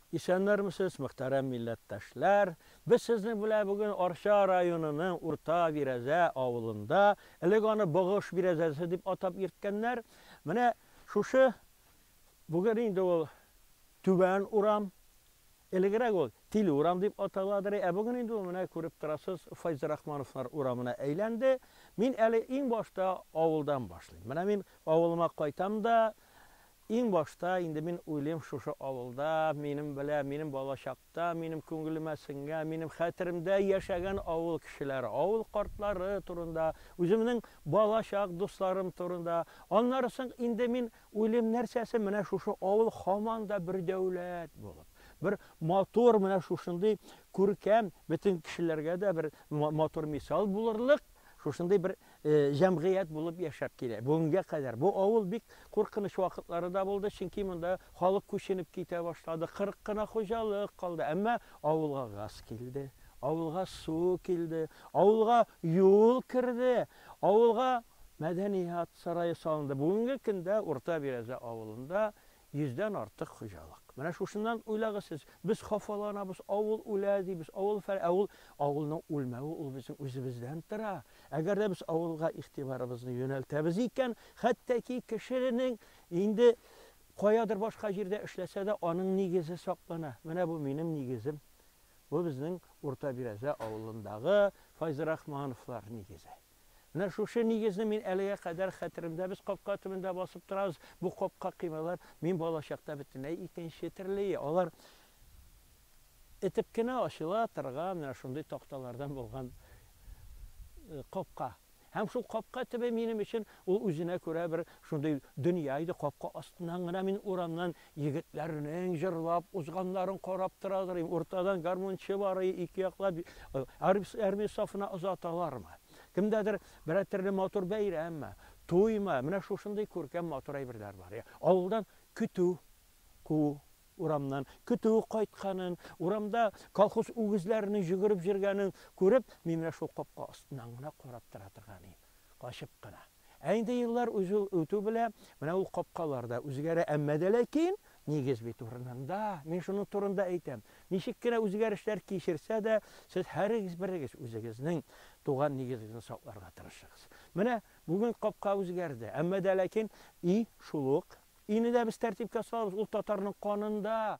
Исәннәрмесез, мөхтәрәм милләттәшләр! Без сезнең белән бүген Арча районының Урта Бирәзә авылында, элек аны Богыш бирәзәсе дип атап йөрткәннәр, менә шушы, бүген инде ул Түбән урам, элегрәк ул Тиле урам дип аталадыр, ә бүген инде ул, менә күреп торасыз, Файзрахмановлар урамына әйләнде. Мин әле иң башта авылдан башлыйм. Менә мин авылыма кайтам да, Иң башта инде мин уйлыйм шушы авылда, минем белә, минем балачакта, минем күңелемә сеңгән, минем хәтеремдә яшәгән авыл кешеләре, авыл картлары турында, үземнең балачак дусларым турында. Аннары соң инде мин уйлыйм нәрсәсе, менә шушы авыл һаман да бер дәүләт булып, бер матур менә шушындый күркәм, бөтен кешеләргә дә бер матур мисал булырлык шушындый бер җәмгыять булып яшәп килә. Бүгенгә кадәр бу авыл бик куркыныч вакытлары да булды, чөнки монда халык күченеп китә башлады, 40 кына хуҗалык калды. Әмма авылга газ килде, авылга су килде, авылга юл керде, авылга мәдәният сарае салынды. Бүгенге көндә Урта Бирәзә авылында Йөздән артык хуҗалык. Менә шушыннан уйлагыз сез. Без хафаланабыз, авыл үлә дибез, авыл фәлән. Ә ул, авылның үлмәве ул безнең үзебездән тора. Әгәр дә без авылга игътибарыбызны юнәлтәбез икән, хәтта ки кешенең инде каядыр башка җирдә эшләсә дә, аның нигезе саклана. Менә бу минем нигезем. Бу безнең Урта Бирәзә авылындагы Файзрахмановлар нигезе. Менә шушы нигезне мин әлегә кадәр хәтеремдә, без капка төбендә басып торабыз, бу капка кыймалар, мин балачакта бөтенләй икенче төрлее, алар этеп кенә ачыла торган менә шундый такталардан булган капка. Һәм шул капка төбе минем өчен ул үзенә күрә бер шундый дөнья иде, капка астыннан гына мин урамнан Егетләрнең җырлап узганнарын карап торадыр идем. Уртадан гармунчы бар иде, ике яклап армия сафына озаталармы? Кемдәдер берәр төрле матур бәйрәмме, туймы? Менә шушындый күркәм матур әйберләр бар. Авылдан көтү куу урамнан, көтү кайтканын, урамда колхоз үгезләренең җөгереп җөргәнен күреп, мин менә шул капка астыннан гына карап тора торган идем, качып кына. Ә инде еллар узу үтү белә, менә ул капкалар да үзгәрә, әмма дә ләкин, нигез бит урынында, мин шуның турында әйтәм. Ничек кенә үзгәрешләр кичерсә дә, сез һәрегез берегез үзегезнең туган нигезегезне сакларга тырышыгыз. Менә бүген капка үзгәрде, әмма дә ләкин, и, шул ук. Ине дә без тәртипкә салабыз, ул татарның канында.